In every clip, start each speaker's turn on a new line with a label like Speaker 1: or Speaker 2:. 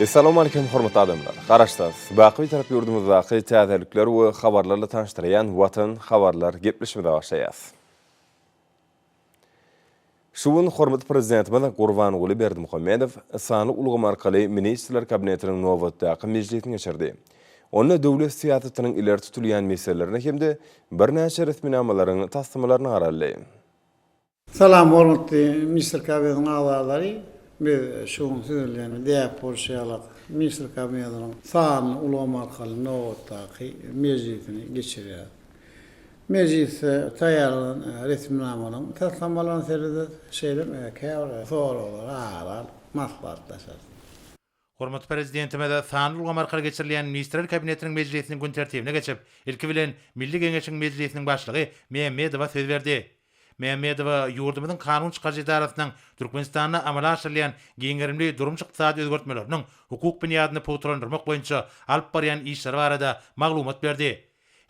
Speaker 1: Essalamu Aleýkum hormatly adamlar! Garaşsyz, baky Bitarap ýurdumyzdaky täzelikler we habarlarla tanyşdyrýan Watan habarlar gepleşimize başlaýas. Şu gün hormatly Prezidentimiz Gurbanguly Berdimuhamedow sanly ulgam arkaly Ministrler Kabinetiniň nobatdaky mejlisini geçirdi. Onda döwlet syýasatynyň ileri tutulýan meselelerine hem-de birnäçe resminamalaryň taslamalaryna garaldy.
Speaker 2: Salam hormatly Mister Kabinetiň agzalary. Biz şu gün siz bilen däp bolşy ýaly Mister Kabinetiniň sanly ulgam arkaly nobatdaky mejlisini geçirýäris. Mejlisde taýýarlanan resminamalaryň taslamalaryna serederis, şeýle hem käbir soraglara ara alyp maslahatlaşarys.
Speaker 3: Hormatly Prezidentimiz sanly ulgam arkaly geçirilýän Ministrler Kabinetiniň mejlisiniň gün tertibine geçip, ilki bilen, Milli Geňeşiň Mejlisiniň Başlygy Mämmedowa söz berdi. Mämmedowa ýurdumyzyň kanun çykaryjy edarasynyň Türkmenistanda amala aşyrylýan giň gerimli durmuş-ykdysady özgertmeleriniň hukuk binýadyny pugtalandyrmak boýunça alyp barýan işleri barada maglumat berdi.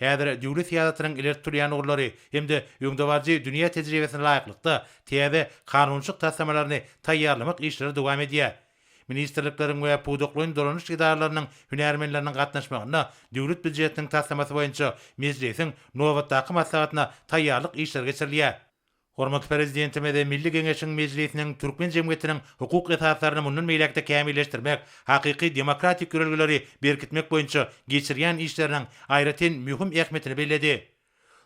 Speaker 3: Häzir döwlet syýasatynyň ileri tutulýan ugurlary hem-de öňdebaryjy dünýä tejribesine laýyklykda täze kanunçylyk taslamalaryny taýýarlamak işleri dowam edýär. ministrlikleriň we pudaklaýyn dolanyş edaralarynyň hünärmenleriniň gatnaşmagynda Döwlet býujetiniň taslamasy boýunça Mejlisiň nobatdaky maslahatyna taýýarlyk işleri geçirilýär. Hormatly Prezidentimiz Milli Geňeşiň Mejlisiniň türkmen jemgyýetiniň hukuk esaslaryny mundan beýläk-de kämilleşdirmek, hakyky demokratik ýörelgeleri berkitmek boýunça geçirýän işleriniň aýratyn möhüm ähmiýetini belledi.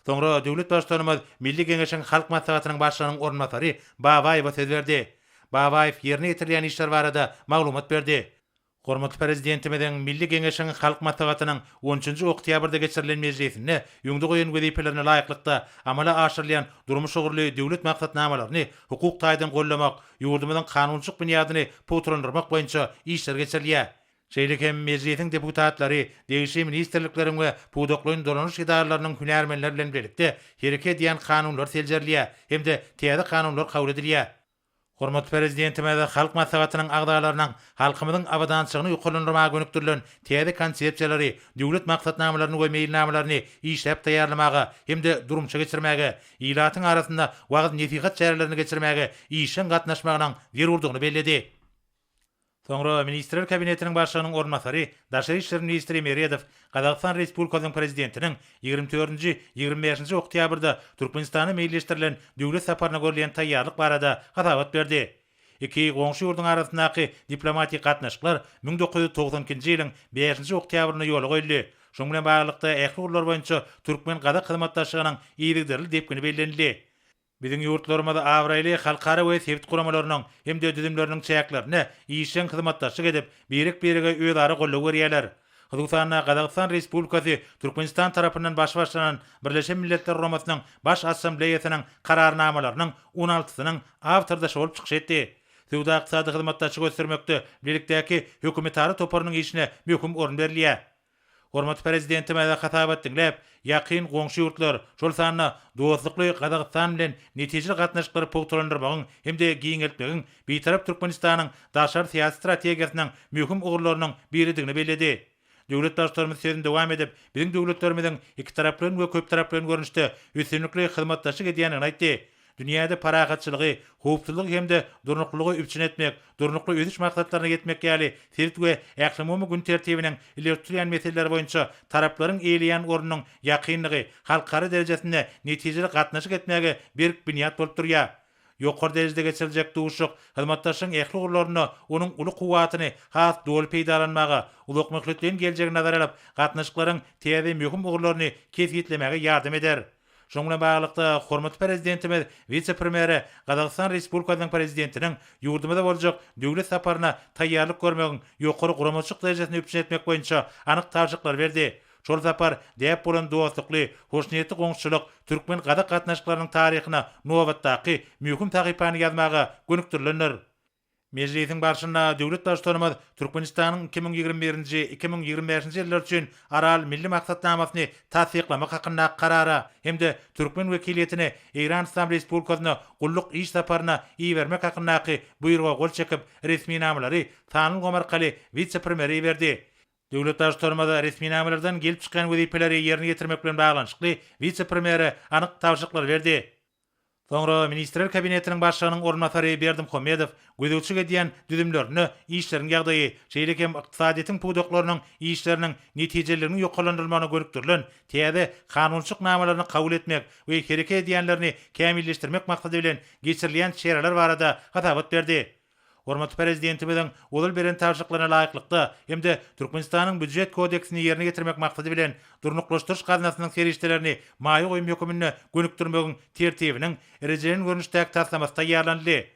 Speaker 3: Soňra döwlet Baştutanymyz Milli Geňeşiň Halk Maslahatynyň Başlygynyň orunbasary Babaýewa söz berdi. Babaýew ýerine ýetirilýän işler barada maglumat berdi. Hormatly Prezidentimiziň Milli Geňeşiň Halk Maslahatynyň on üçünji oktýabrda geçirilen mejlisinde öňde goýan wezipelerine laýyklykda amala aşyrylýan durmuş ugurly döwlet maksatnamalaryny hukuk taýdan goldamak, ýurdumyzyň kanunçylyk binýadyny pugtalandyrmak boýunça işler geçirilýär. Şeýle hem Mejlisiň deputatlary degişli ministrlikleriň we pudaklaýyn dolanyş edaralarynyň hünärmenleri bilen birlikde hereket edýän kanunlar seljerilýär hem-de täze kanunlar kabul edilýär. Hormatly Prezidentimiz Halk Maslahatynyň agzalarynyň halkymyzyň abadançylygyny ýokarlandyrmaga gönükdirilen täze konsepsiýalary, döwlet maksatnamalaryny we meýilnamalaryny işläp taýýarlamaga hem-de durmuşa geçirmäge, ilatyň arasynda wagyz-nesihat çärelerini geçirmäge işjeň gatnaşmagynyň zerurdygyny belledi. Soňra Ministrler Kabinetiniň Başlygynyň orunbasary, daşary işler ministri Meredow Gazagystan Respublikasynyň Prezidentiniň ýigrimi dördünji, ýigrimi bäşinji oktýabrda Türkmenistana meýilleşdirilen döwlet saparyna görülýän taýýarlyk barada hasabat berdi. Iki goňşy ýurduň arasyndaky diplomatik gatnaşyklar müň dokuz ýüz togsan ikinji ýylyň bäşinji oktýabrynda ýola goýuldy, şunuň bilen baglylykda ähli ugurlar boýunça türkmen-gazak hyzmatdaşlygynyň yzygiderli depgini bellenildi. Biziň ýurtlarymyz abraýly halkara we sebit guramalarynyň hem-de düzümleriniň çäklerinde işjeň hyzmatdaşlyk edip, birek-birege özara goldaw berýärler. Hususan-da, Gazagystan Respublikasy Türkmenistan tarapyndan baş başlanan Birleşen Milletler Guramasynyň Baş Assambleýasynyň Kararnamalarynyň on altysynyň awtordaşy bolup çykyş etdi. Söwda-ykdysady hyzmatdaşlygy ösdürmekde bilelikdäki hökümetara toparynyň işine möhüm orun berilýär. Hormatly Prezidentimize hasabat diňläp, ýakyn goňşy ýurtlar, şol sanda dostlukly Gazagystan bilen netijeli gatnaşyklary pugtalandyrmagyň hem-de giňeltmegiň Bitarap Türkmenistanyň daşary syýasy strategiýasynyň möhüm ugurlarynyň biridigini belledi. Döwlet Baştutanymyz sözüni dowam edip, biziň döwletlerimiziň ikitaraplaýyn we köptaraplaýyn görnüşde üstünlikli hyzmatdaşlyk edýändigini aýtdy. Dünýäde parahatçylygy, howpsuzlygy hem-de durnuklylygy üpjün etmek, Durnukly ösüş maksatlaryna ýetmek ýaly sebit we ählumumy gün tertibiniň ileri tutulýan meseleleri boýunça taraplaryň eýeleýän ornunyň ýakynlygy halkara derejesinde netijeli gatnaşyk etmäge berk binýat bolup durýar. Ýokary derejede geçiriljek duşuşyk hyzmatdaşlygyň ähli ugurlarynda onuň uly kuwwatyny has doly peýdalanmaga, uzakmöhletleýin geljegi nazara alyp, gatnaşyklaryň täze möhüm ugurlaryny kesgitlemäge ýardam eder. Şunuň bilen baglylykda, hormatly Prezidentimiz wise-premýere Gazagystan Respublikasynyň Prezidentiniň ýurdumyza boljak döwlet saparyna taýýarlyk görmegiň ýokary guramaçylyk derejesini üpjün etmek boýunça anyk tabşyryklary berdi. Şol sapar däp bolan dostlukly, hoşniýetli goňşuçylyk türkmen-gazak gatnaşyklarynyň taryhyna nobatdaky möhüm sahypany ýazmaga gönükdirilendir. Mejlisiň barşynda döwlet Baştutanymyz Türkmenistanyň iki müň ýigrimi birinji, iki müň ýigrimi bäşinji ýyllar üçin Aral milli maksatnamasyny tassyklamak hakyndaky Karara hem-de türkmen wekiliýetini Eýran Yslam Respublikasyna gulluk iş saparyna ibermek hakyndaky Buýruga gol çekip, resminamalary sanly ulgam arkaly wise-premýere iberdi. Döwlet Baştutanymyz resminamalardan gelip çykýan wezipeleri ýerine ýetirmek bilen baglanyşykly wise-premýere anyk tabşyryklary berdi. Soňra Ministrler Kabinetiniň Başlygynyň orunbasary Berdimuhamedow gözegçilik edýän düzümlerinde işleriň ýagdaýy, şeýle hem ykdysadyýetiň pudaklarynyň işleriniň netijeliliginiň ýokarlandyrylmagyna gönükdirilen täze kanunçylyk namalaryny kabul etmek we hereket edýänlerini kämilleşdirmek maksady bilen geçirilýän çäreler barada hasabat berdi. Hormatly Prezidentimiziň ozal beren tabşyryklaryna laýyklykda hem-de Türkmenistanyň Býujet kodeksini ýerine ýetirmek maksady bilen, Durnuklaşdyryş gaznasynyň serişdelerini maýa goýum höküminde gönükdirmegiň Tertibiniň rejelen görnüşdäki taslamasy taýýarlanyldy.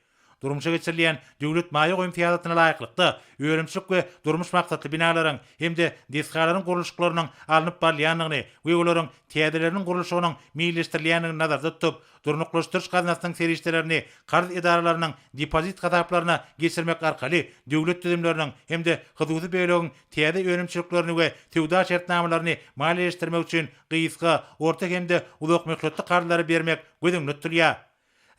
Speaker 3: Durmuşa geçirilýän döwlet maýa goýum syýasatyna laýyklykda, önümçilik we durmuş maksatly binalaryň hem-de desgalaryň gurluşyklarynyň alnyp barylýandygyny we olaryň täzeleriniň gurluşygynyň meýilleşdirilýändigini nazarda tutup, durnuklaşdyryş gaznasynyň serişdelerini karz edaralarynyň depozit hasaplaryna geçirmek arkaly döwlet düzümleriniň hem-de hususy bölegiň täze önümçiliklerini we söwda şertnamalaryny maliýeleşdirmek üçin gysga, orta hem-de uzakmöhletli karzlary bermek göz öňünde tutulýar.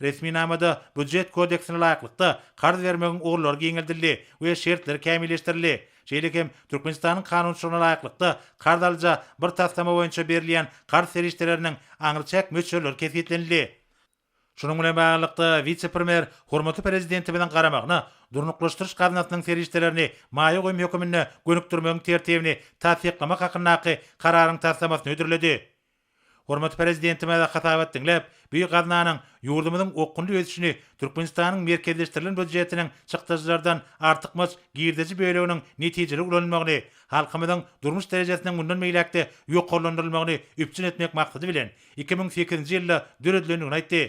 Speaker 3: Resminamada Býujet kodeksine laýyklykda karz bermegiň ugurlary giňeldildi we şertleri kämilleşdirildi. Şeýle hem, Türkmenistanyň kanunçylygyna laýyklykda, karz alyja bir taslama boýunça berilýän karz serişdeleriniň aňryçäk möçberleri kesgitlenildi. Şunuň bilen baglylykda, wise-premýer hormatly Prezidentimiziň garamagyna Durnuklaşdyryş gaznasynyň serişdelerini maýa goýum höküminde gönükdirmegiň tertibini tassyklamak hakyndaky Kararyň taslamasyny hödürledi. Hormatly Prezidentimize hasabat diňläp, bu gaznanyň ýurdumyzyň okgunly ösüşini Türkmenistanyň merkezleşdirilen býujetiniň çykdajylardan artykmaç girdeji böleginiň netijeli ulanylmagyny, halkymyzyň durmuş derejesiniň mundan beýläk-de ýokarlandyrylmagyny üpjün etmek maksady bilen, iki müň sekizinji ýylda döredilendigini aýtdy.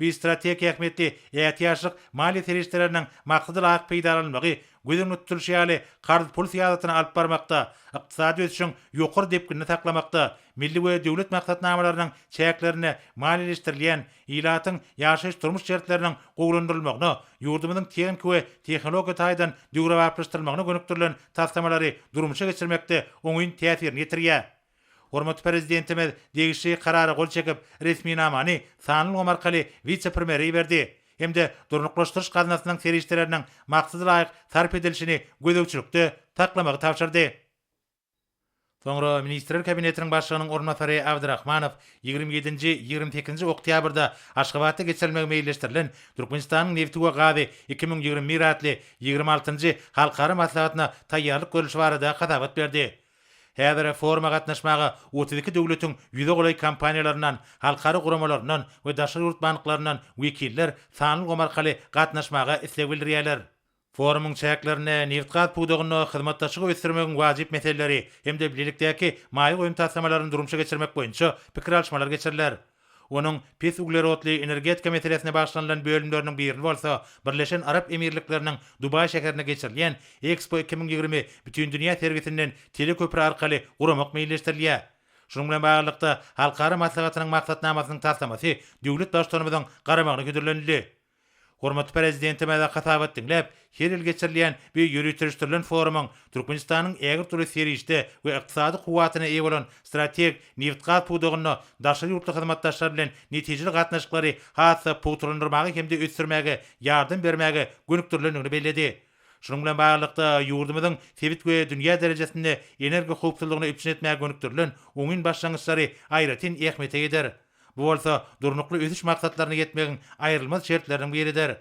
Speaker 3: Biz strategik ähmiýetli ätiýaçlyk maliýe serişdeleriniň maksadalag peýdalanylmagy, göz öňünde tutulyşy ýaly, karz-pul syýasatyny alyp barmakda, ykdysady ösüşiň ýokary depginini saklamakda, milli we döwlet maksatnamalarynyň çäklerinde maliýeleşdirilýän ilatyň ýaşaýyş-durmuş şertleriniň gowulandyrylmagyna, ýurdumyzyň tehniki we tehnologiýa taýdan döwrebaplaşdyrylmagyna gönükdirilen taslamalary durmuşa geçirmekde oňyn täsirini ýetirýär. Hormatly Prezidentimiz degişli Karara gol çekip, resminamany sanly ulgam arkaly wise-premýere iberdi hem-de Durnuklaşdyryş gaznasynyň serişdeleriniň maksada laýyk sarp edilişini gözegçilikde saklamagy tabşyrdy. Soňra Ministrler Kabinetiniň Başlygynyň orunbasary Abdrahmanow ýigrimi ýedinji, ýigrimi sekizinji oktýabrda Aşgabatda geçirilmegi meýilleşdirilen Türkmenistanyň nebti we gazy iki müň ýigrimi bir atly ýigrimi altynjy halkara maslahatyna taýýarlyk görlüşi barada hasabat berdi. Häzir foruma gatnaşmaga otuz iki döwletiň ýüze golaý kompaniýalaryndan, halkara guramalaryndan we daşary ýurt banklaryndan wekiller sanly ulgam arkaly gatnaşmaga isleg bildirýärler. Forumyň çäklerinde nebitgaz pudagynda hyzmatdaşlygy ösdürmegiň wajyp meseleleri hem-de bilelikdäki maýa goýum taslamalaryny durmuşa geçirmek boýunça pikir alyşmalar geçiriler. Onuň pes uglerodly energetika meselesine bagyşlanylan bölümleriniň birini bolsa Birleşen Arap Emirlikleriniň Dubaý şäherinde geçirilýän Expo iki müň ýigrimi bütindünýä sergisinden teleköpri arkaly guramak meýilleşdirilýär. Şunuň bilen baglylykda, halkara maslahatynyň maksatnamasynyň taslamasy döwlet Baştutanymyzyň garamagyna hödürlenildi. Hormatly Prezidentimize hasabat diňläp, her ýyl geçirilýän bu ýöriteleşdirilen forumyň Türkmenistanyň ägirt uly serişde we ykdysady kuwwatyna eýe bolan strategik nebitgaz pudagynda daşary ýurtly hyzmatdaşlar bilen netijeli gatnaşyklary has-da pugtalandyrmaga hem-de ösdürmäge ýardam bermäge gönükdirilendigini belledi. Şunuň bilen baglylykda, ýurdumyzyň sebit we dünýä derejesinde energohowpsuzlygyny üpjün etmäge gönükdirilen oňyn başlangyçlary aýratyn ähmiýete ýeter. Bu bolsa Durnukly ösüş maksatlaryna ýetmegiň aýrylmaz şertleriniň biridir.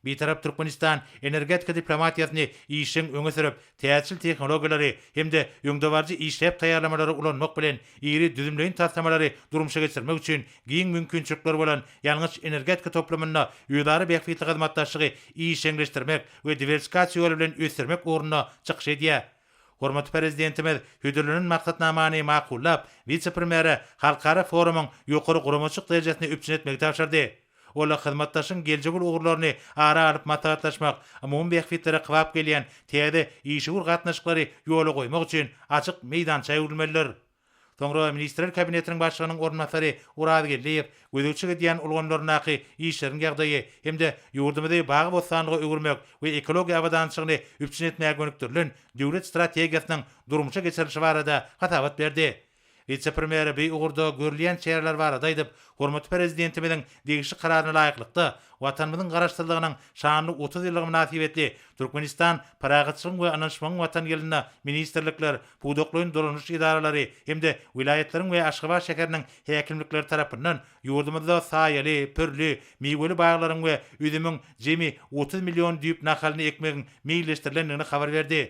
Speaker 3: Bitarap Türkmenistan energetika diplomatiýasyny işjeň öňe sürüp, täjirçil tehnologiýalary hem-de öňdebaryjy işläp taýýarlamalary ulanmak bilen, iri düzümleýin taslamalary durmuşa geçirmek üçin giň mümkinçilikleri bolan ýangyç-energetika toplumynda özara bähbitli hyzmatdaşlygy işjeňleşdirmek we diwersikasiýa ýoly bilen ösdürmek ugrunda çykyş edýär. Hormatly Prezidentimiz hödürlenen maksatnamany makullap, wise-premýere halkara forumyň ýokary guramaçylyk derejesini üpjün etmegi tabşyrdy. Ol hyzmatdaşlygyň geljegi uly ugurlaryny ara alyp maslahatlaşmak, umumy bähbitlere kybap gelýän täze işewür gatnaşyklary ýola goýmak üçin açyk meýdança öwrülmelidir. Soňra Ministrler Kabinetiniň Başlygynyň orunbasary Oraz Geldiýew gözegçilik edýän ulgamlaryndaky işleriň ýagdaýy hem-de ýurdumyzy bagy-bossanlyga öwürmek we ekologiýa abadançylygyny üpjün etmäge gönükdirilen Döwlet strategiýasynyň durmuşa geçirilişi barada hasabat berdi. Wise-premýer bu ugurda görülýän çäreler barada aýdyp, hormatly Prezidentimiziň degişli Kararyna laýyklykda, Watanymyzyň Garaşsyzlygynyň şanly otuz ýyllygy mynasybetli Türkmenistan Parahatçylygyň we ynanyşmagyň Watany ýylynda ministrlikler, pudaklaýyn dolanyş edaralary hem-de welaýatlaryň we Aşgabat şäheriniň häkimlikleri tarapyndan ýurdumyzda saýaly, pürli, miweli baglaryň we üzümiň jemi otuz million düýp nahalyny ekmegiň meýilleşdirilendigini habar berdi.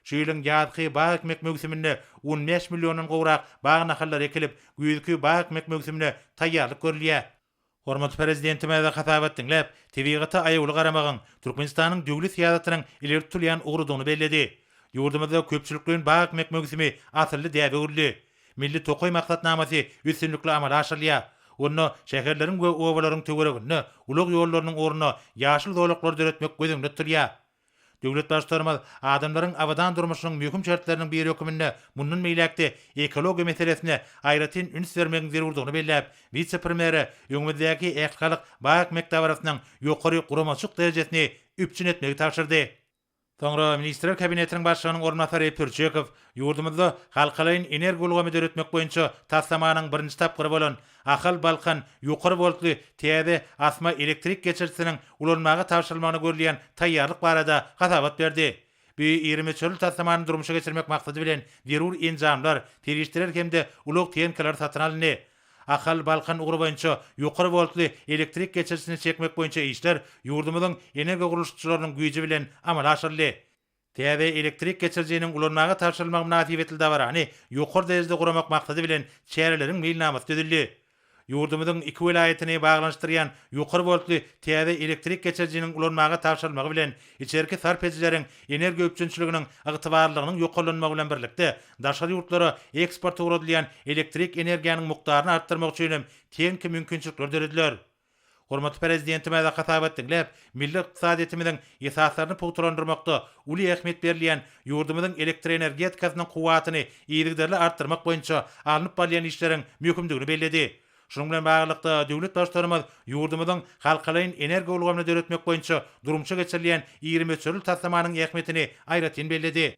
Speaker 3: Şu ýylyň ýazky bag ekmek möwsüminde on bäş milliondan gowrak bag nahallary ekilip, güýzki bag ekmek möwsümine taýýarlyk görülýär. Hormatly Prezidentimize hasabat diňläp, tebigata aýawly garamagyň Türkmenistanyň döwlet syýasatynyň ileri tutulýan ugrudygyny belledi. Ýurdumyzda köpçülikleýin bag ekmek möwsümi asylly däbe öwrüldi. Milli tokaý maksatnamasy üstünlikli amala aşyrylýar. Onda şäherleriň we obalaryň töwereginde ulag ýollarynyň ornuna ýaşyl zolaklar döretmek göz öňünde tutulýar. Döwlet Baştutanymyz adamlaryň abadan durmuşynyň möhüm şertleriniň biri hökmünde mundan beýläk-de ekologiýa meselesine aýratyn üns bermegiň zerurdygyny belläp, wise-premýere öňümizdäki ähli halk bag-ekmek dabarasynyň ýokary guramaçylyk derejesini üpjün etmegi tabşyrdy. Soňra Ministrler Kabinetiniň Başlygynyň orunbasary Pürçekow ýurdumyzda halkalaýyn energoulgamy döretmek boýunça taslamanyň birinji tapgyry bolan Ahal, Balkan, ýokary woltly täze asma elektrik geçirijisiniň ulanmaga tabşyrylmagyna görülýän taýýarlyk barada hasabat berdi. Bu iri möçberli taslamany durmuşa geçirmek maksady bilen zerur enjamlar, serişdeler hem-de ulag tehnikalary satyn alyndy. Ahal, Balkan ugry boýunça ýokary woltly elektrik geçirijisini çekmek boýunça işler ýurdumyzyň energiýagurluşykçylarynyň güýji bilen amala aşyryldy. Täze elektrik geçirijiniň ulanmaga tabşyrylmagy mynasybetli dabarany ýokary derejede guramak maksady bilen çäreleriň meýilnamasy düzüldi. Ýurdumyzyň iki welaýatyny baglanyşdyrýan ýokary woltly täze elektrik geçirijiniň ulanmaga tabşyrylmagy bilen içerki sarp edijileriň energiýa üpjünçiliginiň ygtybarlylygynyň ýokarlanmagy bilen birlikde daşary ýurtlara eksporta ugradylýan elektrik energiýanyň mukdaryny artdyrmak üçin hem tehniki mümkinçilikler dörediler. Hormatly Prezidentimize hasabat diňläp, milli ykdysadyýetimiziň esaslaryny pugtalandyrmakda uly ähmiýet berilýän ýurdumyzyň elektroenergetikasynyň kuwwatyny yzygiderli artdyrmak boýunça alnyp barylýan işleriň möhümdigini belledi. Şunuň bilen baglylykda, döwlet Baştutanymyz ýurdumyzyň halkalaýyn energiýa ulgamyny döretmek boýunça durmuşa geçirilýän iri möçberli taslamanyň ähmiýetini aýratyn belledi.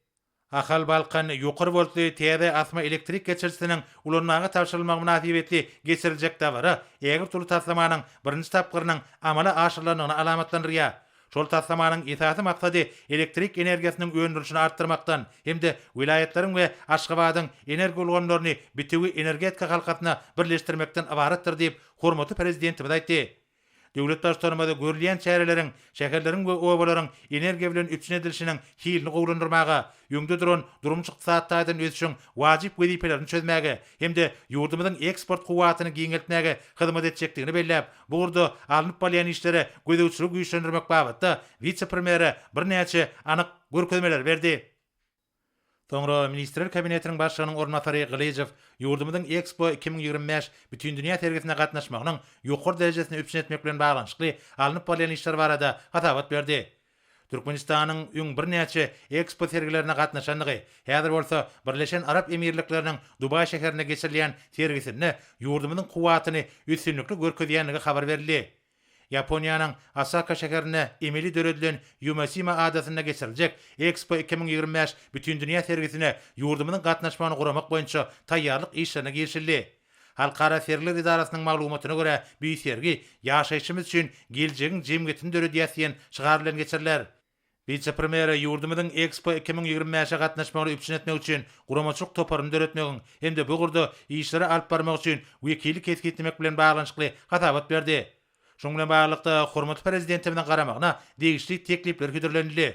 Speaker 3: Ahal Balkan ýokary woltly täze asma elektrik geçirijisiniň ulanmaga tabşyrylmagy mynasybetli geçiriljek dabara ägirt uly taslamanyň birinji tapgyrynyň amala aşyrylandygyny alamatlandyrýar. Şol taslamanyň esasy maksady elektrik energiýasynyň öndürilişini artdyrmakdan hem-de welaýatlaryň we Aşgabadyň energoulgamlaryny bitewi energetika halkasyna birleşdirmekden ybaratdyr diýip, hormatly Prezidentimiz aýtdy. Döwlet Baştutanymyz görülýän çäreleriň şäherleriň we obalaryň energiýa bilen üpjün edilişiniň hilini gowulandyrmaga, öňde duran durmuş-ykdysady taýdan ösüşiň wajyp wezipelerini çözmäge hem-de ýurdumyzyň eksport kuwwatyny giňeltmäge hyzmat etjekdigini belläp, bu ugurda alnyp barylýan işlere gözegçiligi güýçlendirmek babatda wise-premýere birnäçe anyk görkezmeleri berdi. Soňra Ministrler Kabinetiniň Başlygynyň orunbasary Gylyjow ýurdumyzyň Expo iki müň ýigrimi bäş Bütindünýä sergisine gatnaşmagynyň ýokary derejesini üpjün etmek bilen baglanyşykly alnyp barylýan işler barada hasabat berdi. Türkmenistanyň öň birnäçe Expo sergilerine gatnaşandygy, häzir bolsa Birleşen Arap Emirlikleriniň Dubaý şäherinde geçirilýän sergisinde ýurdumyzyň kuwwatyny üstünlikli görkezýändigi habar berildi. Ýaponiýanyň Osaka şäherinde emeli döredilen Ýumasima adasynda geçiriljek Expo iki müň ýigrimi bäş bütindünýä sergisine ýurdumyzyň gatnaşmagyny guramak boýunça taýýarlyk işlerine girişildi. Halkara sergiler edarasynyň maglumatyna görä, bu sergi Ýaşaýşymyz üçin geljegiň jemgyýetini döredýäs diýen şygar bilen geçiriler. Wise-premýere ýurdumyzyň Expo iki müň ýigrimi bäşe gatnaşmagyny üpjün etmek üçin guramaçylyk toparyny döretmegiň hem-de bu ugurda işleri alyp barmak üçin wekili kesgitlemek bilen baglanyşykly hasabat berdi. Şunuň bilen baglylykda, hormatly Prezidentimiziň garamagyna degişli teklipler hödürlenildi.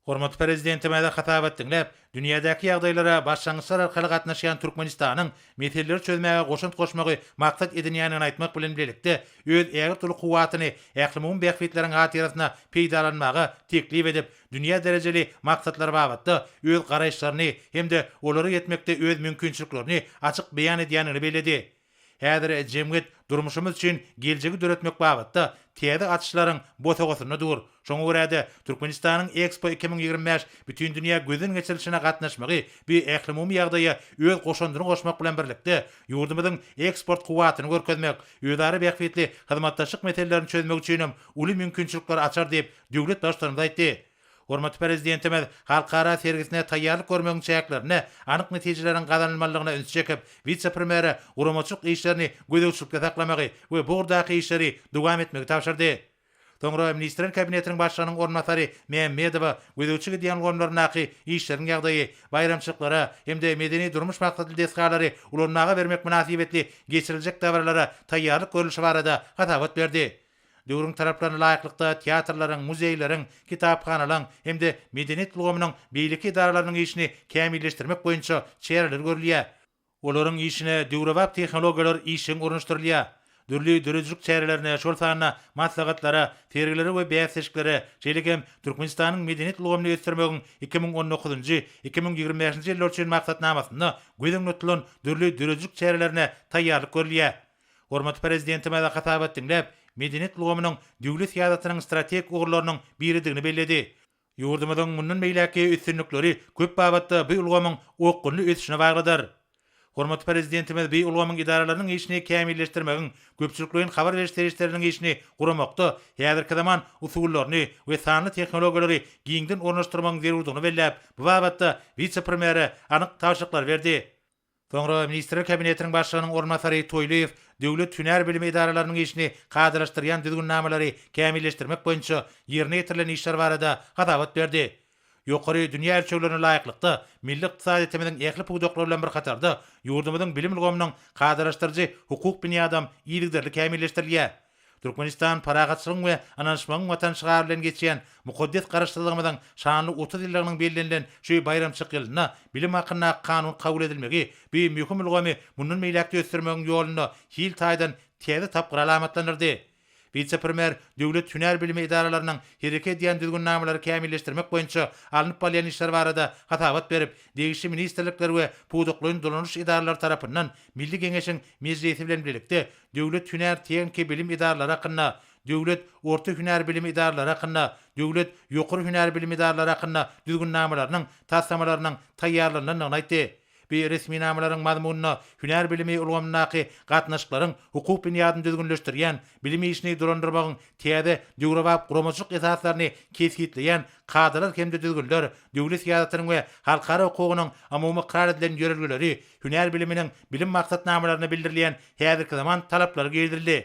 Speaker 3: Hormatly Prezidentimize hasabat diňläp, Dünýädäki ýagdaýlara başlangyçlar arkaly gatnaşýan Türkmenistanyň meseleleri çözmäge goşant goşmagy maksat edinýändigini aýtmak bilen birlikde, öz ägirt uly kuwwatyny ählumumy bähbitleriň hatyrasyna peýdalanmagy teklip edip, dünýä derejeli maksatlar babatda öz garaýyşlaryny hem-de olara ýetmekde öz mümkinçiliklerini açyk beýan edýändigini belledi. Häzir jemgyýet durmuşymyz üçin geljegi döretmek babatda täze açyşlaryň bosagasynda dur. Şoňa görä-de, Türkmenistanyň Expo iki müň ýigrimi bäş bütindünýä gözden geçirilişine gatnaşmagy bu ählumumy ýagdaýa öz goşandyny goşmak bilen birlikde, ýurdumyzyň eksport kuwwatyny görkezmek, özara bähbitli hyzmatdaşlyk meselelerini çözmek üçin hem uly mümkinçilikleri açar diýip, döwlet Baştutanymyz aýtdy. Hormatly Prezidentimiz halkara sergisine taýýarlyk görmegiň çäklerinde anyk netijeleriň gazanylmalydygyna üns çekip, wise-premýere guramaçylyk işlerini gözegçilikde saklamagy we bu ugurdaky işleri dowam etmegi tabşyrdy. Soňra Ministrler Kabinetiniň Başlygynyň orunbasary Mämmedowa gözegçi gidýän ulgamlaryndaky işleriň ýagdaýy, baýramçylyklara hem-de medeni-durmuş maksatly desgalary ulanmaga bermek mynasybetli geçiriljek dabaralara taýýarlyk görlüşi barada hasabat berdi. Döwrüň talaplaryna laýyklykda teatrlaryň, muzeýleriň, kitaphanalaň hem-de medeniýet ulgamynyň beýleki edaralarynyň işini kämilleşdirmek boýunça çäreler görülýär. Olaryň işine döwrebap tehnologiýalar işjeň ornaşdyrylýar. Dürli döredijilik çärelerine, şol sanda maslahatlara, sergilere we bäsleşiklere, şeýle hem Türkmenistanyň medeniýet ulgamyny ösdürmegiň iki müň on dokuzynjy, iki müň ýigrimi bäşinji ýyllar üçin maksatnamasynda göz öňünde tutulan dürli döredijilik çärelerine taýýarlyk görülýär. Hormatly Prezidentimiz hasabat diňläp, medeniýet ulgamynyň döwlet syýasatynyň strategik ugurlarynyň biridigini belledi. Ýurdumyzyň mundan beýläkki üstünlikleri köp babatda bu ulgamyň okgunly ösüşine baglydyr. Hormatly Prezidentimiz bu ulgamyň edaralarynyň işini kämilleşdirmegiň, köpçülikleýin habar beriş serişdeleriniň işini guramakda häzirki zaman usullaryny we sanly tehnologiýalary giňden ornaşdyrmagyň zerurdygyny belläp, bu babatda wise-premýere anyk tabşyryklary berdi. Soňra Ministrler Kabinetiniň Başlygynyň orunbasary Toýlyýew döwlet hünär bilimi edaralarynyň işini kadalaşdyrýan düzgünnamalary kämilleşdirmek boýunça ýerine ýetirilen işler barada hasabat berdi. Ýokary dünýä ölçeglerine laýyklykda, milli ykdysadyýetimiziň ähli pudaklary bilen bir hatarda, ýurdumyzyň bilim ulgamynyň kadalaşdyryjy hukuk binýadam yzygiderli kämilleşdirilýär. Türkmenistan Parahatçylygyň we ynanyşmagyň Watany şygary bilen geçýän mukaddes Garaşsyzlygymyzyň şanly otuz ýyllygynyň bellenilen şu baýramçyk ýylynda Bilim hakyndaky kanun kabul edilmegi bu möhüm ulgamy mundan beýläk-de ösdürmegiň ýolunda hil taýdan täze tapgyry alamatlandyrdy. Wise-premýer döwlet hünär bilimi edaralarynyň hereket edýän düzgünnamalary kämilleşdirmek boýunça alnyp barylýan işler barada hasabat berip, degişli ministrlikler we pudaklaýyn dolanyş edaralary tarapyndan Milli Geňeşiň Mejlisi bilen birlikde Döwlet hünär tehniki bilim edaralary hakynda, Döwlet orta hünär bilim edaralary hakynda, Döwlet ýokary hünär bilim edaralary hakynda Düzgünnamalarynyň taslamalarynyň taýýarlanylandygyny aýtdy. Bi resminamalaryň mazmunynda hünär bilimi ulgamyndaky gatnaşyklaryň hukuk binýadyny düzgünleşdirýän, bilim işini dolandyrmagyň täze döwrebap guramaçylyk esaslaryny kesgitleýän kadalar hem-de düzgünler, döwlet syýasatynyň we halkara hukugynyň umumy ykrar edilen ýörelgeleri hünär biliminiň bilim maksatnamalarynda bildirilýän häzirki zaman talaplary girizildi.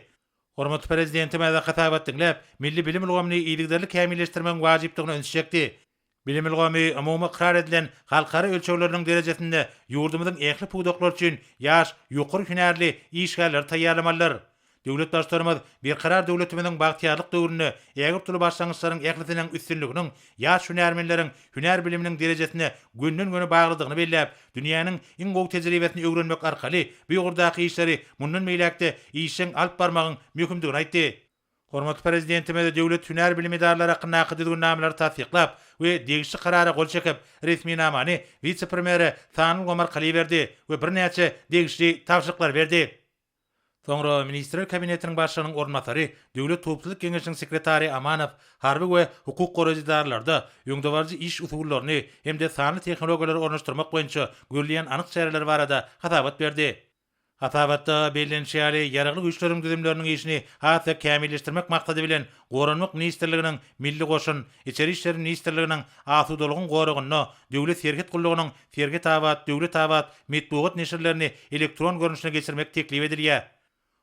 Speaker 3: Hormatly Prezidentimiz hasabat diňläp, milli bilim ulgamyny yzygiderli kämilleşdirmegiň wajypdygyna üns çekdi. Bilim ulgamy umumy ykrar edilen halkara ölçegleriniň derejesinde ýurdumyzyň ähli pudaklar üçin ýaş, ýokary hünärli işgärleri taýýarlamalydyr. Döwlet Baştutanymyz Berkarar döwletimiziň bagtyýarlyk döwründe ägirt uly başlangyçlaryň ählisiniň üstünliginiň ýaş hünärmenleriň hünär biliminiň derejesine gönden-göni baglydygyny belläp, dünýäniň iň gowy tejribesini öwrenmek arkaly bu ýokardaky işleri mundan beýläk-de işjeň alyp barmagyň möhümdigini aýtdy. Hormatly Prezidentimiz Döwlet hünär bilim edaralary hakyndaky Düzgünnamalary tassyklap we degişli Karara gol çekip, resminamany wise-premýere Sanly Omar Kali berdi we birnäçe degişli tabşyryklary berdi. Soňra Ministrler Kabinetiniň Başlygynyň orunbasary, Döwlet howpsuzlyk geňeşiniň sekretary Amanow harby we hukuk goraýjy edarlarda öňdebaryjy iş usullaryny hem-de sanly tehnologiýalary ornaşdyrmak boýunça görülýän anyk çäreler barada hasabat berdi. Hasabatda bellenişi ýaly, Ýaragly Güýçleriň düzümleriniň işini has-da kämilleşdirmek maksady bilen, Goranmak ministrliginiň Milli goşun, Içeri işler ministrliginiň Asudalygyň goragynda Döwlet serhet gullugynyň Sergetabat, Döwletabat metbugat neşirlerini elektron görnüşine geçirmek teklip edilýär.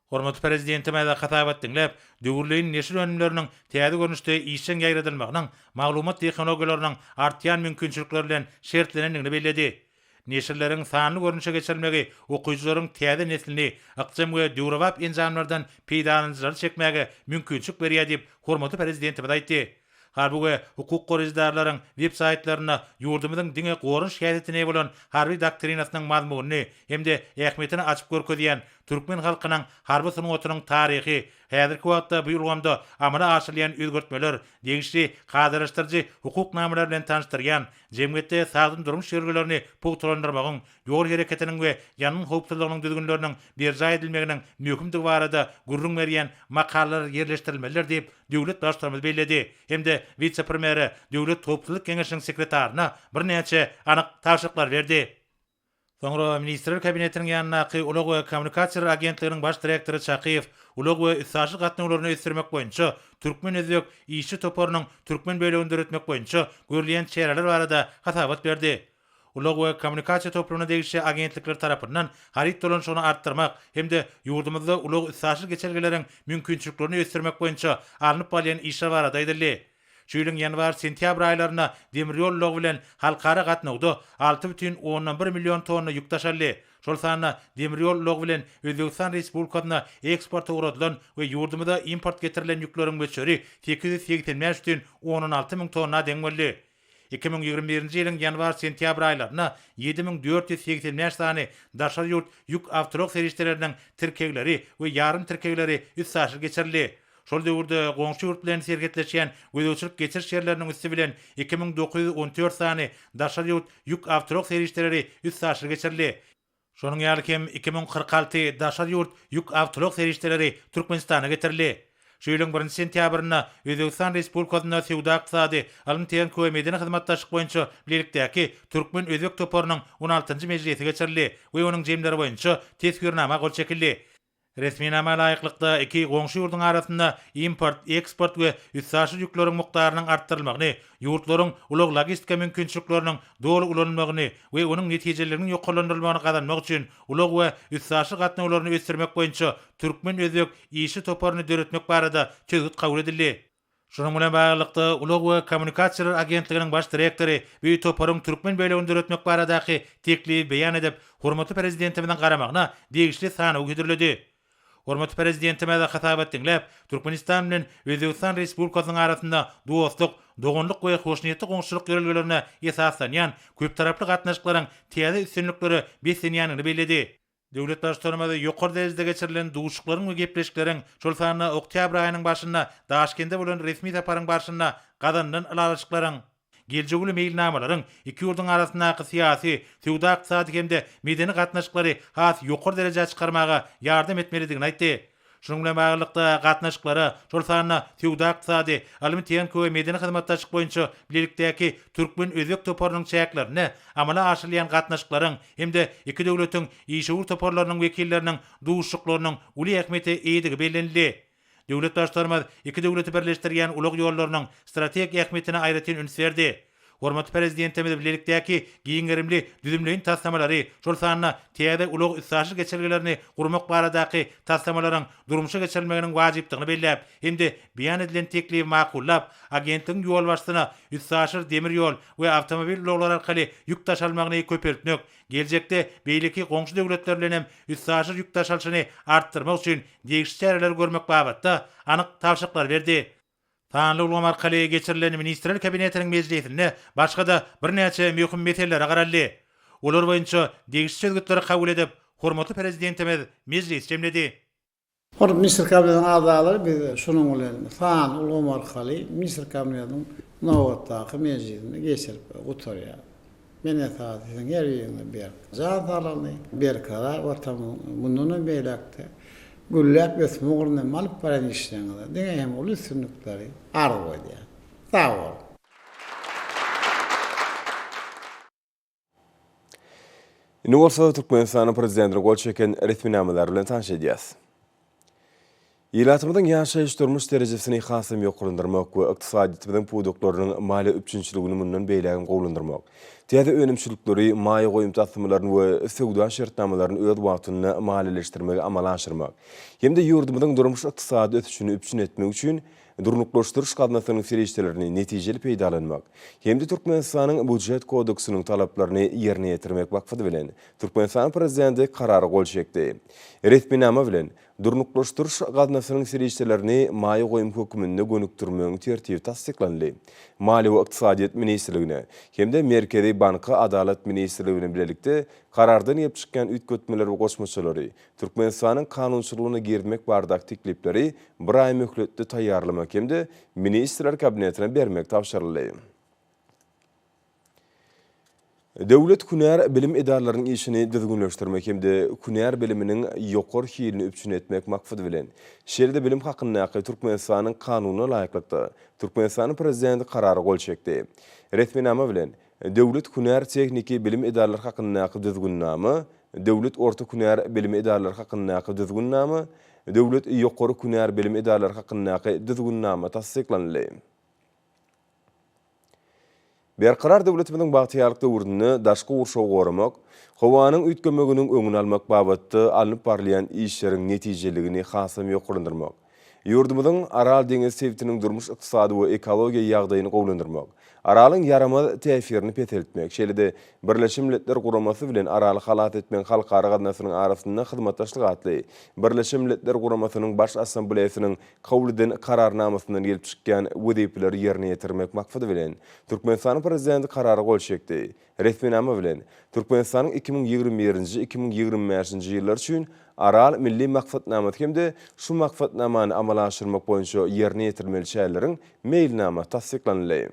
Speaker 3: Hormatly Prezidentimiz hasabat diňläp, döwürleýin neşir önümleriniň täze görnüşde işjeň ýaýradylmagynyň maglumat tehnologiýalarynyň artýan mümkinçilikleri bilen şertlenendigini belledi. Neşirleriň sanly görnüşe geçirilmegi okyjylaryň täze neslini ykjam we döwrebap enjamlardan peýdalanyjylary çekmäge mümkinçilik berýär diýip, hormatly Prezidentimiz aýtdy. Harby we hukuk goraýjydarlaryň web-saýtlarynda ýurdumyzyň diňe goran şikayetine bolan harby doktrinasynyň mazmunyny hem-de ähmiýetini açyp görkezýän Türkmen halkynyň harby sungatynyň taryhy, häzirki wagtda bu ulgamda amala aşyrylýan özgertmeler, degişli kadalaşdyryjy hukuk namalar bilen tanyşdyrýan, jemgyýetde sagdyn durmuş ýörelgelerini pugtalandyrmagyň ýol hereketiniň we ýangyn howpsuzlygynyň düzgünleriniň berjaý edilmeginiň möhümdigi barada gürrüň berýän makalalar ýerleşdirilmelidir diýip, döwlet Baştutanymyz belledi hem-de wise-premýere, Döwlet howpsuzlyk geňeşiniň sekretaryna birnäçe anyk tabşyryklary berdi. Soňra Ministrler Kabinetiniň ýanyndaky Ulag we kommunikasiýalar agentliginiň baş direktory Çakyýew ulag we üstaşyr gatnawlaryny ösdürmek boýunça türkmen-özbek işçi toparynyň türkmen bölegini döretmek boýunça görülýän çäreler barada hasabat berdi. Ulag we kommunikasiýa toplumyna degişli agentlikler tarapyndan haryt dolanyşygyny artdyrmak hem-de ýurdumyzda ulag-üstaşyr geçelgeleriň mümkinçiliklerini ösdürmek boýunça alnyp barylýan işler barada aýdyldy. Şu ýylyň ýanwar-sentýabr aýlarynda demir ýol ulagy bilen halkara gatnawda alty bütin ondan bir million tonna ýük daşaldy, şol sanda demir ýol ulagy bilen Özbegistan Respublikasyna eksporta ugradylan we ýurdumyza import getirilen ýükleriň möçberi sekiz ýüz segsen bäş bütin ondan alty müň tonna deň boldy. Iki müň ýigrimi birinji ýylyň ýanwar-sentýabr aýlarynda ýedi müň dört ýüz segsen bäş sany daşary ýurt ýük awtoulag serişdeleriniň tirkegleri we ýarym tirkegleri üstaşyr geçirildi. Şol döwürde goňşy ýurt bilen serhetleşýän gözegçilik-geçiriş ýerleriniň üsti bilen iki müň dokuz ýüz on dört sany daşary ýurt ýük awtoulag serişdeleri üstaşyr geçirildi. Şonuň ýaly hem iki müň kyrk alty daşary ýurt ýük awtoulag serişdeleri Türkmenistana getirildi. Şu ýylyň birinji sentýabrynda Özbegistan Respublikasynda Söwda-ykdysady, ylym-tehniki we medeni hyzmatdaşlyk boýunça bilelikdäki türkmen-özbek toparynyň on altynjy mejlisi geçirildi we onuň jemleri boýunça Teswirnama gol çekildi. Resminama laýyklykda, iki goňşy ýurduň arasynda import, eksport we üstaşyr ýükleriň mukdarynyň artdyrylmagyny, ýurtlaryň ulag-logistika mümkinçilikleriniň doly ulanylmagyny we onuň netijeliliginiň ýokarlandyrylmagyny gazanmak üçin ulag we üstaşyr gatnawlaryny ösdürmek boýunça türkmen-özbek işçi toparyny döretmek barada çözgüt kabul edildi. Şunuň bilen baglylykda, Ulag we kommunikasiýalar agentliginiň baş direktory bu toparyň türkmen bölegini döretmek baradaky teklibi beýan edip, hormatly Prezidentimiziň garamagyna degişli sanawy hödürledi. Hormatly Prezidentimiz hasabat diňläp, Türkmenistan bilen Özbegistan Respublikasynyň arasynda dostluk, doganlyk we hoşniýetli goňşuçylyk ýörelgelerine esaslanýan köptaraply gatnaşyklaryň täze üstünliklere beslenýändigini belledi. Döwlet Baştutanymyz ýokary derejede geçirilen duşuklaryň we gepleşikleriň, şol sanda oktýabr aýynyň başynda Daşkende bolan resmi saparyň barşynda gazanylan ylalaşyklaryň, geljek uly meýilnamalaryň iki ýurduň arasyndaky syýasy, söwda-ykdysady hem-de medeni gatnaşyklary has ýokary derejä çykarmaga ýardam etmelidigini aýtdy. Şunuň bilen baglylykda, gatnaşyklara, şol sanda söwda-ykdysady, ylmy-tehniki we medeni hyzmatdaşlyk boýunça bilelikdäki türkmen-özbek toparynyň çäklerinde amala aşyrylýan gatnaşyklaryň hem-de iki döwletiň işewür toparlarynyň wekilleriniň duşuşyklarynyň uly ähmiýete eýedigi bellenildi. Döwlet Baştutanymyz iki döwleti birleşdirýän ulag ýollarynyň strategik ähmiýetine aýratyn üns berdi. Hormatly Prezidentimiz bilelikdäki giň gerimli düzümleýin taslamalary, şol sanda täze ulag-üstaşyr geçelgelerini gurmak baradaky taslamalaryň durmuşa geçirilmeginiň wajypdygyny belläp hem-de beýan edilen teklibi makullap, agentligiň ýolbaşçysyna üstaşyr demir ýol we awtomobil ulaglary arkaly ýük daşalmagyny köpeltmek, geljekde beýleki goňşy döwletler bilen hem üstaşyr ýük daşalyşyny artdyrmak üçin degişli çäreleri görmek babatda anyk tabşyryklary berdi. Sanly ulgam arkaly geçirilen Ministrler Kabinetiniň mejlisinde başga-da birnäçe möhüm meselelere garaldy. Olar boýunça degişli çözgütleri kabul edip, hormatly Prezidentimiz mejlis jemledi. Hormatly Ministrler
Speaker 2: Kabinetiniň agzalary, biz şunuň bilen sanly ulgam arkaly Ministrler Kabinetiniň nobatdaky mejlisini geçirip gutarýarys. Men esasy siziň her biriňiziň berk jan saglygyny, berkarar Watanymyzyň mundanam beýläk-de gülläp ösme ugrunda hem alyp barýan işleriňize diňe hem uly üstünlikleri arzuw edýän. Sag boluň!
Speaker 1: Indi bolsa Türkmenistanyň Prezidentine gol çeken resminamalar bilen tanyş edýäs. Ilatymyzyň ýaşaýyş-durmuş derejesini hasam ýokarlandyrmak we ykdysadyýetimiziň pudaklarynyň maliýe üpjünçiligini mundan beýlägem gowulandyrmak, täze önümçilikleri, maýa goýum taslamalaryny we söwda şertnamalaryny öz wagtynda maliýeleşdirmegi amala aşyrmak hem-de ýurdumyzyň durmuş-ykdysady ösüşini üpjün etmek üçin durnuklaşdyryş gaznasynyň serişdelerini netijeli peýdalanmak hem-de Türkmenistanyň Býujet kodeksiniň talaplaryny ýerine ýetirmek maksady bilen, Türkmenistanyň Prezidenti Karara gol çekdi. Resminama bilen, Durnuklaşdyryş gaznasynyň serişdelerini maýa goýum hökmünde gönükdirmegiň tertibi tassyklandy. Maliýe we ykdysadyýet ministrligine hem-de Merkezi banka Adalat ministrligi bilen bilelikde Karardan gelip çykýan üýtgetmeler we goşmaçalary Türkmenistanyň kanunçylygyna girizmek baradaky teklipleri bir aý möhletde taýýarlamak hem-de Ministrler Kabinetine bermek tabşyryldy. Döwlet hünär bilim edaralarynyň işini düzgünleşdirmek hem-de hünär biliminiň ýokary hilini üpjün etmek maksady bilen, Şeýle-de bilim hakyndaky Türkmenistanyň Kanunyna laýyklykda, Türkmenistanyň Prezidenti Karara gol çekdi. Resminama bilen, Döwlet hünär tehniki bilim edaralary hakyndaky Düzgünnama, Döwlet orta hünär bilim edaralary hakyndaky Düzgünnama, Döwlet ýokary hünär bilim edaralary hakyndaky Düzgünnama tassyklanyldy. Berkarar döwletimiziň bagtyýarlyk döwründe daşky gurşawy goramak, howanyň üýtgemeginiň öňüni almak babatda alnyp barylýan işleriň netijeliligini hasam ýokarlandyrmak, ýurdumyzyň Aral deňiz sebitiniň durmuş-ykdysady we ekologiýa ýagdaýyny gowulandyrmak, Aralyň ýaramaz täsirini peseltmek, şeýle-de Birleşen Milletler Guramasy bilen Araly halas etmegiň halkara gaznasynyň arasynda hyzmatdaşlyk atly Birleşen Milletler Guramasynyň Baş Assambleýasynyň kabul eden Kararnamasyndan gelip çykýan wezipeleri ýerine ýetirmek maksady bilen, Türkmenistanyň Prezidenti Karara gol çekdi. Resminama bilen, Türkmenistanyň iki müň ýigrimi birinji, iki müň ýigrimi bäşinji ýyllar üçin Aral milli maksatnamasy hem-de şu Maksatnamany amala aşyrmak boýunça ýerine ýetirilmeli çäreleriň meýilnamasy tassyklanyldy.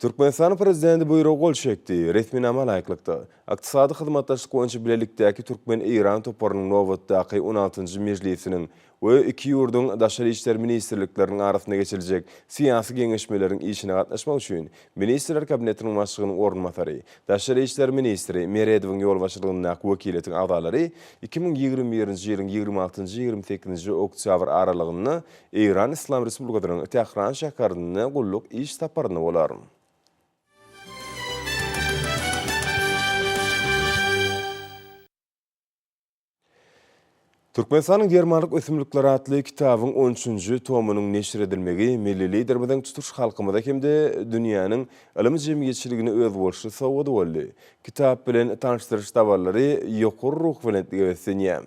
Speaker 1: Türkmenistanyň Prezidenti Buýruga gol çekdi. Resminama laýyklykda, Ykdysady hyzmatdaşlyk boýunça bilelikdäki türkmen-eýran toparynyň nobatdaky on altynjy mejlisiniň we iki ýurduň Daşary işler ministrlikleriniň arasynda geçiriljek syýasy geňeşmeleriň işine gatnaşmak üçin Ministrler Kabinetiniň Başlygynyň orunbasary, daşary işler ministri Meredowyň ýolbaşçylygyndaky wekiliýetiň agzalary iki müň ýigrimi birinji ýylyň ýigrimi altynjy-ýigrimi sekizinji oktýabr aralygynda Eýran Yslam Respublikasynyň Tähran şäherinde gulluk iş saparynda bolar. Türkmenistanyň germanlyk ösümlikleri atly kitabyň on üçünji tomynyň neşir edilmegi milli Liderimiziň tutuş halkymyza hem-de dünýäniň ylym jemgyýetçiligine özboluşly sowgady boldy. Kitap bilen tanyşdyryş dabaralary ýokary ruhubelentlige beslenýär.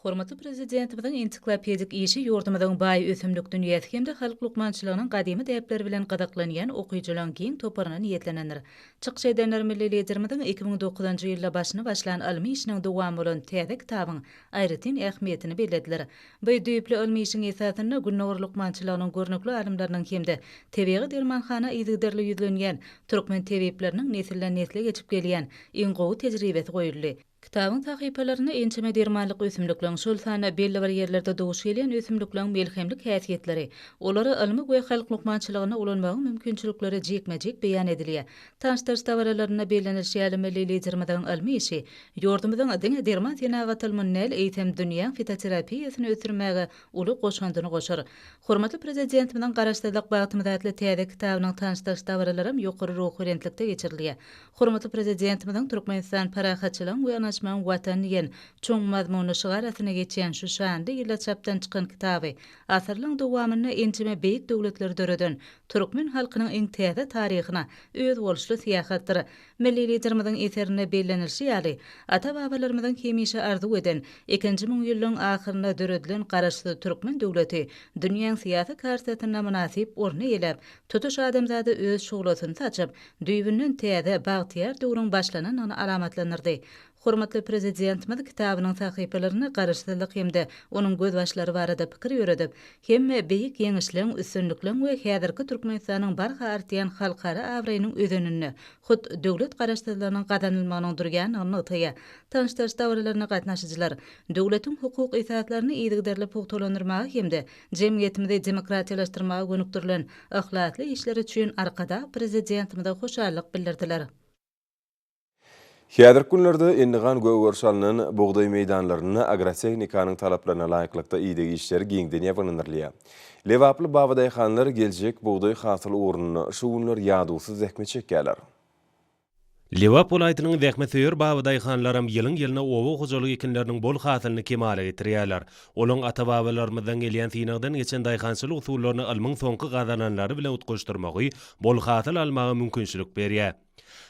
Speaker 4: Hormatly Prezidentimiziň ensiklopedik işi ýurdumyzyň baý ösümlik dünýäsi hem-de halk lukmançylygynyň gadymy däpleri bilen gyzyklanýan okyjylaryň giň toparyna niýetlenendir. Çykyş edenler milli Liderimiziň iki müň dokuzynjy ýylda başyny başlan ylmy işiniň dowamy bolan täze kitabyň aýratyn ähmiýetini bellediler. Bu düýpli ylmy işiň esasynda Gündogar lukmançylygynyň görnükli alymlarynyň hem-de tebigy dermanhana yzygiderli ýüzlenýän türkmen tebipleriniň nesilden-nesle geçip gelýän iň gowy tejribesi goýuldy. Kitabyň sahypalarynda ençeme dermanlyk ösümlikleň, şol sanda belli bir ýerlerde duş gelýän ösümlikleň melhemlik häsiýetleri, olary ylmy we halk lukmançylygynda ulanmagyň mümkinçilikleri jikme-jik beýan edilýär. Tanyşdyryş dabaralarynda bellenilişi ýaly, milli Liderimiziň ylmy işi ýurdumyzyň diňe derman senagaty ylmyny däl, eýsem, dünýäň fitoterapiýasyny ösdürmäge uly goşandyny goşar. Hormatly Prezidentimiziň Garaşsyzlyk bagtymyz atly täze kitabynyň tanyşdyryş dabaralaram ýokary ruhubelentlikde geçirilýär. Hormatly Prezidentimiziň Türkmenistan parahatçylygyň we ynaşmagyň Watany diýen çuň mazmunly şygar astyna geçýän şu şanly ýylda çapdan çykan kitaby asyrlaryň dowamynda ençeme beýik döwletleri döreden türkmen halkynyň iň täze taryhyna özboluşly syýahatdyr. Milli Liderimiziň eserinde bellenilişi ýaly, ata-babalarymyzyň hemişe arzuw eden, ikinji müňýyllygyň ahyrynda döredilen Garaşsyz türkmen döwleti dünýäň syýasy kartasynda mynasyp orun eýeläp, tutuş adamzada öz şuglasyny saçyp, düýbünden täze, bagtyýar döwrüň başlanandygyny alamatlandyrdy. Hormatly Prezidentimiz kitabynyň sahypalarynda Garaşsyzlyk hem-de onuň gözbaşlary barada pikir ýöredip, hemme beýik ýeňişleň, üstünlikleň we häzirki Türkmenistanyň barha artýan halkara abraýynyň özeninde hut döwlet Garaşsyzlygynyň gazanylmagynyň durýandygyny nygtaýar. Tanyşdyryş dabaralaryna gatnaşyjylar döwletiň hukuk esaslaryny yzygiderli pugtalandyrmaga hem-de Jemgyýetimizi demokratiýalaşdyrmaga gönükdirilen yhlasly işleri üçin Arkadag Prezidentimize hoşallyk bildirdiler.
Speaker 1: Häzirki günlerde endigan gögeriş alnan bugdaý meýdanlarynda agrotehnikanyň talaplaryna laýyklykda ideg işleri giňden ýabanyndyrylýar. Lebaply babadaýhanlar geljek bugdaý hasyly ugrunda şu günler ýadawsyz zähmet çekýärler.
Speaker 5: Lebap welaýatynyň zähmetsöýer babadaýhanlaram ýylyň-ýylyna oba hojalyk ekinleriniň bol hasylyny kemala getirýärler. Olaň ata-babalarymyzdan gelýän synagdan geçen daýhançylyk usullaryny ylmyň soňky gazananlary bilen utgaşdyrmagy bol hasyl almaga mümkinçilik berýär.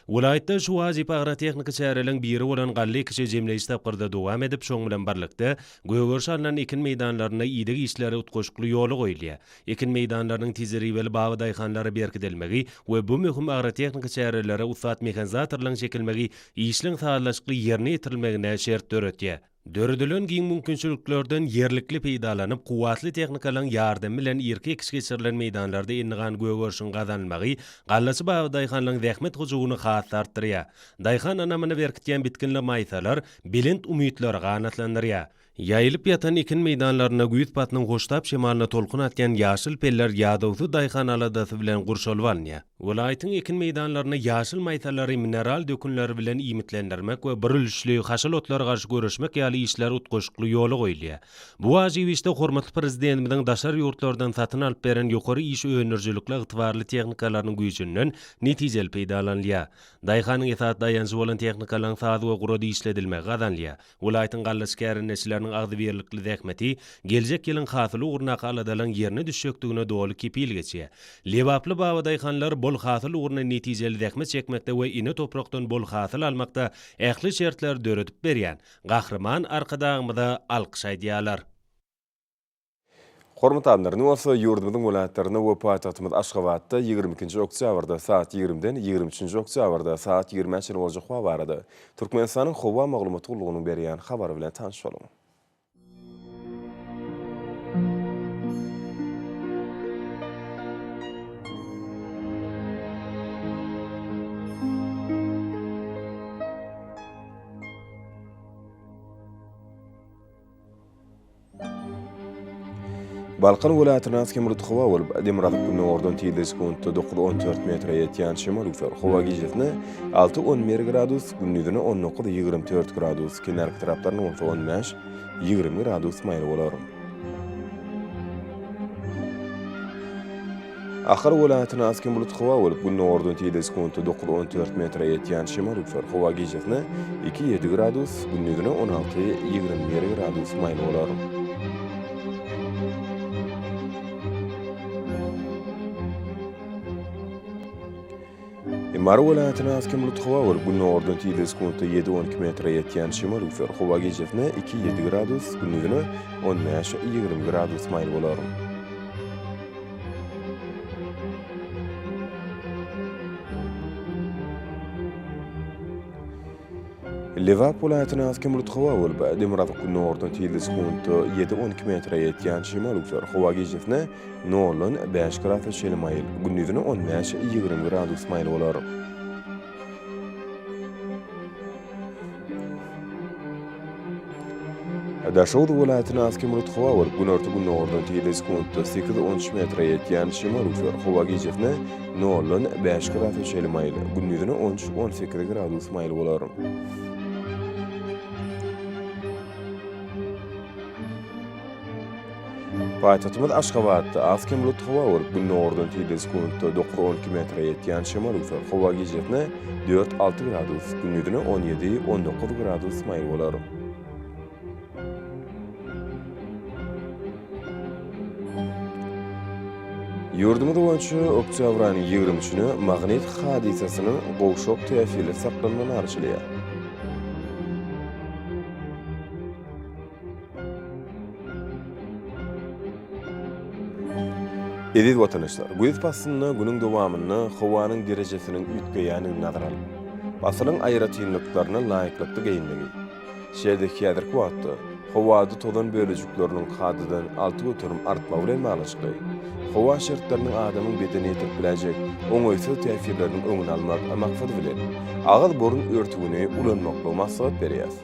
Speaker 5: Welaýatda şu wajyp agrotehniki çäreleriň biri bolan galla ekişi jemleýji tapgyrda dowam edip, şoň bilen birlikde, gögerişe alnan ekin meýdanlarynda ideg işleri utgaşykly ýola goýulýar. ekin meýdanlarynyň tejribeli baby daýhanlara berkidilmegi we bu möhüm agrotehniki çärelere ussat mehanizatorlaryň çekilmegi işiň sazlaşykly ýerine ýetirilmegine şert döretýär. Döredilen giň mümkinçiliklerden ýerlikli peýdalanyp, kuwwatly tehnikalaryň ýardamy bilen irki ekiş geçirilen meýdanlarda endigan gögerişiň gazanylmagy gallaçy baby daýhanlaryň zähmet hyjuwyny has-da artdyrýar. Daýhan anamyny berkidýän bitginli maýsalar belent umytlary ganatlandyrýar. Ýaýylyp ýatan ekin meýdanlarynda güýz paslyň hoştap şemalyna tolkun atýan ýaşyl peller ýadawsyz daýhan aladasy bilen gurşalyp alynýar. Welaýatyň ekin meýdanlaryny ýaşyl maýsalary mineral dökünler bilen iýmitlendirmek we birülüşli haşal otlara garşy göreşmek ýaly işler utgaşykly ýola goýulýar. Bu wajyp işde hormatly Prezidentimiziň daşary ýurtlardan satyn alyp beren ýokary iş öndürijilikli ygtybarly tehnikalarynyň güýjünden netijeli peýdalanylýar. Daýhanyň esasy daýanjy bolan tehnikalaryň saz we gurada işledilmegi gazanylýar. Welaýatyň gallaçy kärendeçileriniň agzybirlikli zähmeti geljek ýylyň hasyly ugrundaky aladalaryň ýerine düşjekdigine doly kepil geçýär. Lebaply babadaýhanlar bol hasyl ugrunda netijeli zähmet çekmekde we ene toprakdan bol hasyl almakda ähli şertleri döredip berýän Gahryman Arkadagymyza alkyş aýdýarlar.
Speaker 1: Hormatly Ander, indi bolsa ýurdumyzyň welaýatlarynda we paýtagtymyz Aşgabatda ýigrimi ikinji oktýabrda saat ýigrimiden ýigrimi üçünji oktýabrda saat ýigrimä çenli boljak howa barada Türkmenistanyň Howa maglumat gullugynyň berýän habary bilen tanyş boluň. Balkan welaýatyna has hem rutg howa bolup, Demirgazyk gündogardan tizligi sekuntda dokuz on dört metre ýetýän şemal üser. Howa gijesine alty on bir gradus, gündizine on dokuz ýigrimi dört gradus, kenarki taraplarynda bolsa on bäş ýigrimi gradus maýyl bolar. Ahal welaýatyna az hem bulut howa bolup, gündogardan tizde sekuntda dokuz, on dört metre ýetýän şemal üpsär. Howa gijesine iki, ýedi gradus, gündizine on alty, ýigrimi bir gradus maýyl bolar. Mary welaýatyna has kemlutdy howa bolup, günordan tizligi sekuntda ýedi-on iki metre ýetýän şemal üflär. Howa gijesi-ne iki-ýedi gradus, gündüzine on bäş-ýigrimi gradus maýyl bolar. Lebap welaýatyna has kemlutdy howa bolup, demirgazyk-günordan tizligi sekuntda ýedi-on iki metre ýetýän şemal üflär. Howa gijesi-ne Noldan bäş grasa çenli maýyl, gündizine on bäş, ýigrimi gradus maýyl bolar. Daşoguz welaýatyna az kömürlik howa bolup, günorta-gündogardan tizligi sekuntda sekiz on üç metre ýetýän şemal üflär. Howa gijesi noldan bäş grasa çenli maýyl, gündizine on üç on sekiz gradus maýyl bolar. Paýtagtymyz Aşgabatda az-kem bulut howa bolup, gündogardan tirde sekuntda dokuz-on iki metre ýetýän şemal üwser. Howa gijesine dört-alty gradus, gündizine on ýedi-on dokuz gradus maýyl bolar. Ýurdumyz boýunça oktýabryň ýigrimi üçüne magnit hadysasynyň gowşak täsirli saklanmagy arçalaýar. Eziz watanyşlar, güýz paslynda günüň dowamynda howanyň derejesiniň üýtgeýändigini nazara alyp, pasylyň aýratynlyklaryna laýyklykda geýinmegi, şeýle-de häzirki wagtda howada tozan bölejikleriniň kadadan alty göterim artmagy bilen baglanyşykly, howa şertleriniň adamyň bedenine ýetirip biläýjek oňaýsyz täsirleriniň öňüni almak maksady bilen, agyz-burun örtügini ulanmaklygy maslahat berýäris.